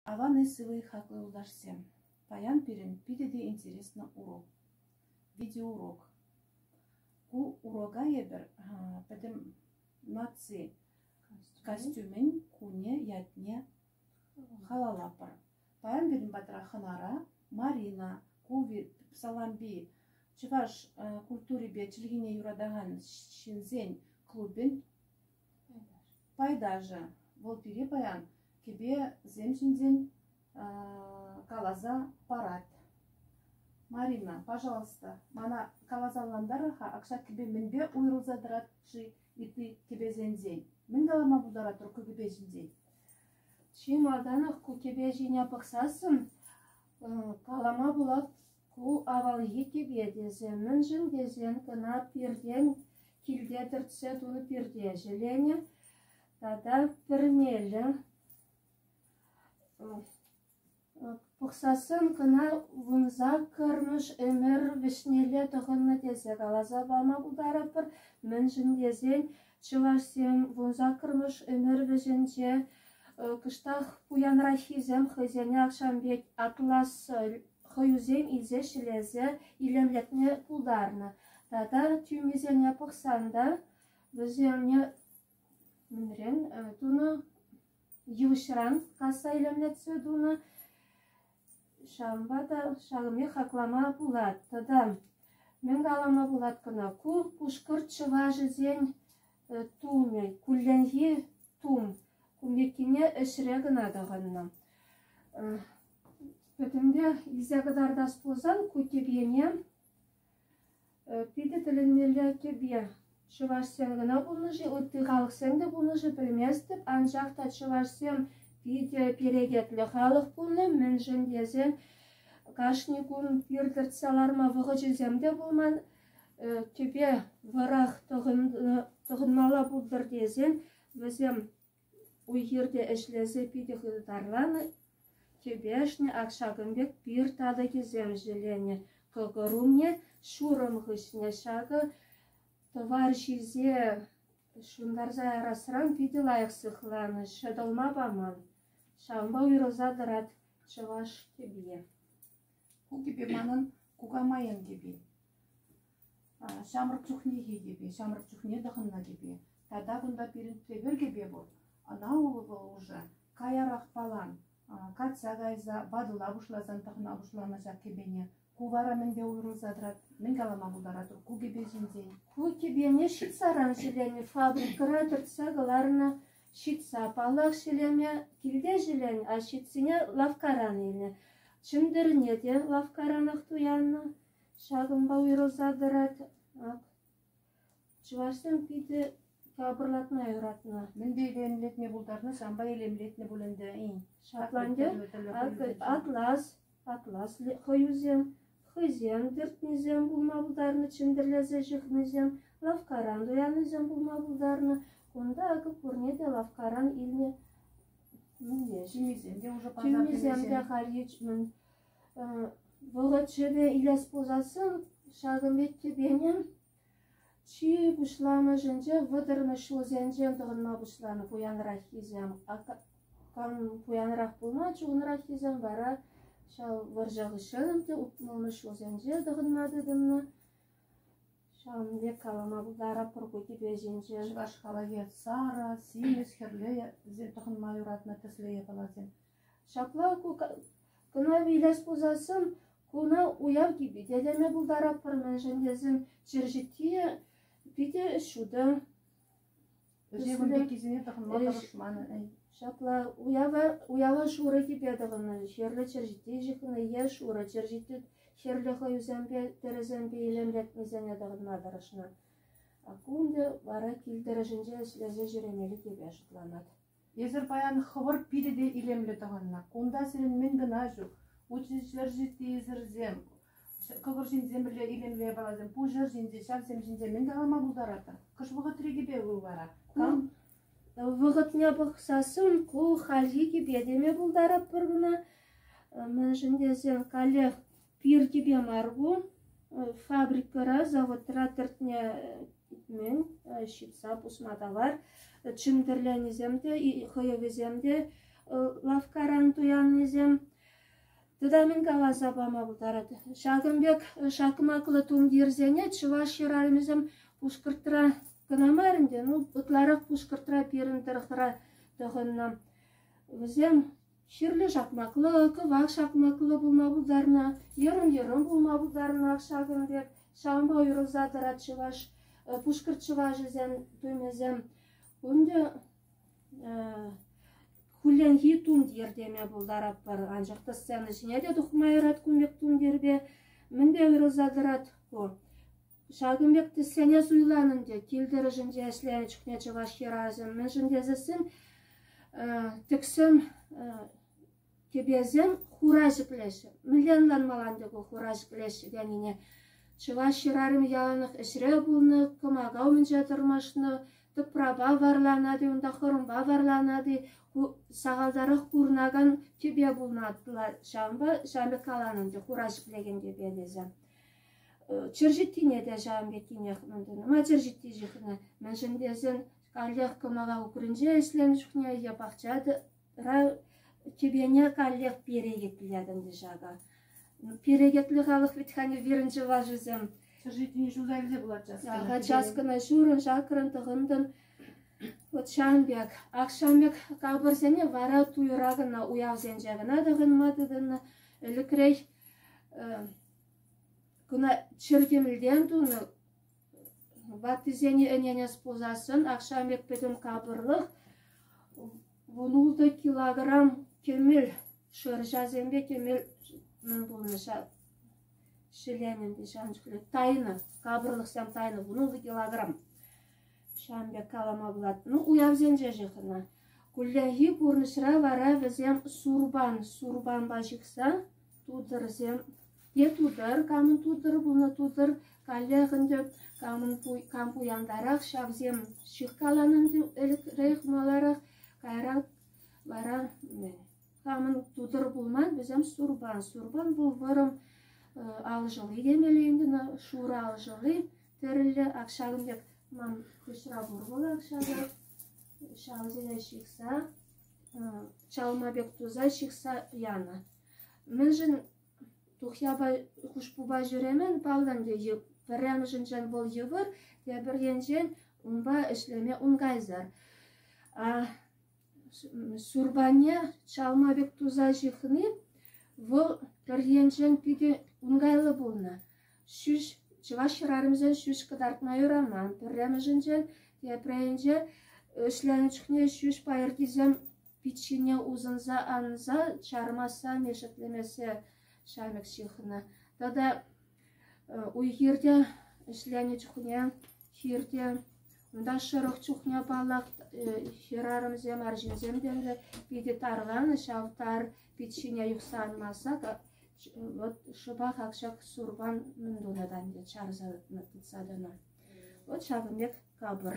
Аван и сывӑ хаклӑ юлташсем! Паян пирӗн питӗ те интереслӗ урок, видеоурок. Ку урока эпир пӗтӗм наци костюмӗн кунӗ ятне халаллатпӑр. Паян пирӗн патра хӑнара Марина, Куви, Салампи, чӑваш культурипе чӗлхине юратакан ҫынсен клубӗн Пайташӗ, вӑл пире паян кӗпесем ҫинчен каласа парать. Марина, пожалуйста, мана каласа-ӑнлантарӑр-ха, акҫа кӗпе мӗнпе уйрӑлса тӑрать-ши ытти кӗпесенчен? Мӗн калама пултаратӑр ку кӗпе ҫинчен? Чи малтанах ку кӗпе ҫине пӑхсассӑн калама пулать Ку авалхи тӗпе тесе, мӗншӗн тесен кӑна пиртен килте тӗртсе тунӑ пирте ҫӗленӗ тата пӗрмелӗ пухсассӑн кӑна вунса кӑрмӑш ӗмӗр вӗҫнелле тӑхӑннӑ тесе каласа пама пултарӑпӑр, мӗншӗн тесен Чӑвашсем вун саккӑрмӗш ӗмӗр вӗҫӗнче кӑштах пуянраххисем хӑйсене ахҫам пек атлас хӑюсем илсе ҫӗлесе илемлетме пултарнӑ. Тата тӳмисене пӑхсан та вӗсене мӗнрен тунӑ? Йывӑҫран касса илемлетсе тунӑ. Ҫавӑнпа та ҫакӑнпех хаклама пулать тата. Мӗн калама пулать кӑна, ку пушкӑрт чӑвашӗсен тумӗ, кулленхи тум. Кун пеккине ӗҫре кӑна тӑхӑннӑ. Пӗтӗмпех илсе кӑтартас пулсан, ку тӗп ене Питӗ тӗлӗнмелле кӗпе. Чӑвашсем кӑна пулнӑ-ши, ытти халӑхсем те пулнӑ-ши пӗлместӗп. Анчах та чӑвашсем питӗ перекетлӗ халӑх пулнӑ, мӗншӗн тесен кашни кун пир тӗртсе ларма вӑхӑчӗсем те пулман. Кӗпе вӑрах тӑхӑнмалла пултӑр тесен вӗсем Уй-хирте ӗҫлесе питӗ хытарланӑ, кӗпешне ак ҫакӑн пек пир татӑкӗсем ҫӗленӗ, кӑкӑр умне ҫурӑм хыҫне ҫакӑ тӑвар ҫисе ҫунтарса ярасран питӗ лайӑх сыхланӑ, ҫӑтӑлма паман. Ҫавӑнпа уйрӑлса тӑрать чӑваш кӗпи. Ку кӗпе манӑн кукамайӑн кӗпи. Ҫамрӑк чухнехи кӗпе, ҫамрӑк чухне тӑхӑннӑ кӗпе. Тата кунта пирӗн тепӗр кӗпе пур. Ӑна вӑл уже каярах палан катса кайса, ватӑла пуҫласан тӑхӑна пуҫланӑ ҫак кӗпене. Ку вара мӗнпе уйрӑлса тӑрать, мӗн калама пултаратӑр ку кӗпе ҫинчен? Ку кӗпене ҫитсаран ҫӗлеме фабрикӑра кӗртсе кӑларнӑ. Ҫитса паллах ҫӗлеме килте ҫӗленӗ, а ҫитсине лавккаран илнӗ. Чӗнтӗрне те лавккаранах туяннӑ. Ҫакӑнпа уйрӑлса тӑрать ак. Чӑвашсем питӗ капӑрлатма юратнӑ. Мӗнпе илемлетме пултарнӑ, санпа илемлетнӗ пуль ӗнтӗ-и? Шотландия, атлас, атлас хӑюсем, хӑйсем тӗртнисем пулма пултарнӑ, чӗнтӗрлесе ҫыхнисем, лавккаран туяннисем пулма пултарнӑ. Кунта акӑ пурне те лавккаран илнӗ. Мӗнле, ҫимисем те, уже пасар ҫимисем те халь мӗн Вӑхӑт шывӗ илес пулсассӑн ҫакӑн пек тӗпене чи пуҫламӑшӗнче вӑтӑрмӗш ҫулсенче тӑхӑнма пуҫланӑ пуянраххисем. Кам пуянрах пулма чухӑнраххисем вара ҫав вӑрҫӑ хыҫҫӑн те ултмӑлмӗш ҫулсенче тӑхӑнма тытӑннӑ. Ҫавӑн пек калама пултаратпӑр ку тӗпе ҫинче. Чӑваш халӑхӗ сарӑ, симӗс, хӗрлӗ тӑхӑнма юратнӑ тӗслӗ япаласем. Ҫапла кӑна вилес пулсассӑн куна уяв типӗтелеме пултаратпӑр-мӗншӗн тесен чир ҫитсийӗ питӗ ҫутӑ. Вӗсем пеккисене тӑхӑнма тӑрӑшман. Ҫапла, уява, уява шурӑ типе тӑхӑннӑ. Хӗрлӗ чӗрҫитти ҫыхнӑ е шурӑ чӗрҫитти хӗрлӗ хӑюсемпе, тӗрӗсемпе илемлетнисене тӑхӑнма тӑрӑшнӑ. А кунӗ вара кил тӑрӑшӗнче ӗҫлесе ҫӳремелли типе шутланать. Эсир паян хӑвӑр пите те илемлӗ тӑхӑннӑ. Кунта сирӗн мӗн кӑна ҫук. Учӗ ҫӗр ҫитийӗсӗрсем, кӑкӑр ҫинчен пӗрле илемле япаласем. Пуҫ ӗр ҫинче, ҫавсем ҫинче мӗн калама пултаратӑр? Кӑш вӑхӑтри кӗпе вӑл вара? Кам? Вӑхӑтне пӑхсассӑн ку хальхи кӗпе теме пултаратпӑр кӑна. Мӗншӗн тесен каллех Пир-тӳпе мар ку, фабрикӑра, заводра тӗртнӗ кӗтмен, ҫыпса пусма тавар. Чӗмтӗрленисем те, хӑйӑвӗсем те, лавккаран туяннисем. Тата мӗн каласа пама пултарать. Ҫакӑн пек шакмаклӑ тумтирсене чӑваш хӗрарӑмӗсем Пушкӑртра кӑна мар ӗнтӗ, ну ытларах Пушкӑртра, пирӗн тӑрӑхра тӑхӑннӑ. Вӗсем Хӗрлӗ шакмаклӑ, кӑвак шакмаклӑ пулма пултарнӑ, йӑрӑм-йӑрӑм пулма пултарнӑ ҫакӑн пек. Ҫавӑнпа уйрӑлса тӑрать чӑваш, пушкӑрт чӑвашӗсен тумӗсем. Унти хулленхи тумтир теме пултаратпӑр. Анчах та сцена ҫине те тухма юрать кун пек тумтирпе. Мӗнпе уйрӑлса тӑрать ку? Ҫакӑн пек тӗссене суйланӑн те кил-тӗрӗшӗнче ӗҫленӗ чухне чӑваш хӗрарӑмӗ мӗншӗн тесессӗн тӗксӗм кӗпесем хура ҫӗклеҫҫӗ. Мӗнле ӑнланмалла ӗнтӗ ку хура ҫӗклеҫҫӗ тенине? Чӑваш хӗрарӑмӗ яланах ӗҫре пулнӑ, кӑмака умӗнче тӑрмашнӑ, тӑпрапа варланать-и, унта хӑрӑмпа варланать-и, ку сахалтарах курӑнакан кӗпе пулнӑ ҫавӑнпа ҫавӑн пек каланӑ ӗнтӗ хура ҫӗклекен кӗпе тесе. Черчеттине те ҫавӑн пеккинех мӗн тунӑ. Ма черчетти ҫыхнӑ? Мӗншӗн тесен каллех кӑмӑла укринче ӗҫленӗ чухне е пахча тӑра тӳпене каллех перекетлет ӗнтӗ ҫакӑ. Перекетлӗ халӑх вӗт хани вырӑн чӑвашӗсем. Черчеттине ҫулса илсе пулатчӗ. Ага, часкӑна ҫурӑн, чакрӑн, тӑхӑнтӑн. Вот ҫавӑн пек. Ак ҫавӑн пек капӑрсене вара туйра кӑна, уявсенче кӑна тӑхӑнма тытӑннӑ. Ӗлӗкрех Куна чӗртемлтен тунӑ ваттисене ӗненес пулсассӑн ахҫамрӑкпа капӑрлӑх вун-ултӑ килограмм кӗмӗл шӑрҫасемпе кӗмӗл мӗн пулнӑ ҫӗленӗ те ҫавӑн чухлӗ тайнӑ, капӑрлӑхсем тайнӑ вун-ултӑ килограмм. Ҫавӑн пек калама пулать. Ну, уявсенче ҫыхӑннӑ. Кулленхи пурнӑҫра вара вӗсем сурпан, сурпанпа ҫыхса Тутӑрсем те тутӑр, камӑн тутӑр пулнӑ тутӑр каллех ӗнтӗ, кам пуянтарах ҫавсем. Ҫыхкаланӑ ӗнтӗ ӗлӗкрех маларах, каярах вара-мӗн. Камӑн тутӑр пулман, вӗсем сурпан. Сурпан вӑл вӑрӑм алшӑлли темелле ӗнтӗ, шурӑ алшӑлли, тӗрӗллӗ. Ак ҫакӑн пек ман хыҫра пур вӑл ак ҫакӑ. Ҫавсене ҫыхса чалма пек туса ҫыхса янӑ. Мӗншӗн тухьяпа хушпупа ҫӳремӗн паллӑн те пӗрремӗшӗнчен вӑл йывӑр, тепӗр енчен унпа ӗҫлеме ункайсӑр. Сурпане чалма пек туса ҫыхни вӑл пӗр енчен питӗ ункайлӑ пулнӑ. Чӑваш хӗрарӑмӗсем ҫӳҫ кӑтартма юраман. Пӗрремӗшӗнчен, тепринче ӗҫленӗ чухне ҫӳҫ пайӑркисем пит ҫине усӑнса анса чармасса, мешетлемессе ҫамӗк ҫыхнӑ. Тата уй-хирте ӗҫленӗ чухне хирте унта шӑрӑх чухне, паллах, хӗрарӑмсем, арҫынсем те питӗ тарланӑ ҫав тар Пит ҫине юхса анмасса вӑт шӑпах ак ҫак сурпан мӗн тунӑ та ӗнтӗ, чарса тытса тӑнӑ. Вӑт ҫакӑн пек капӑр.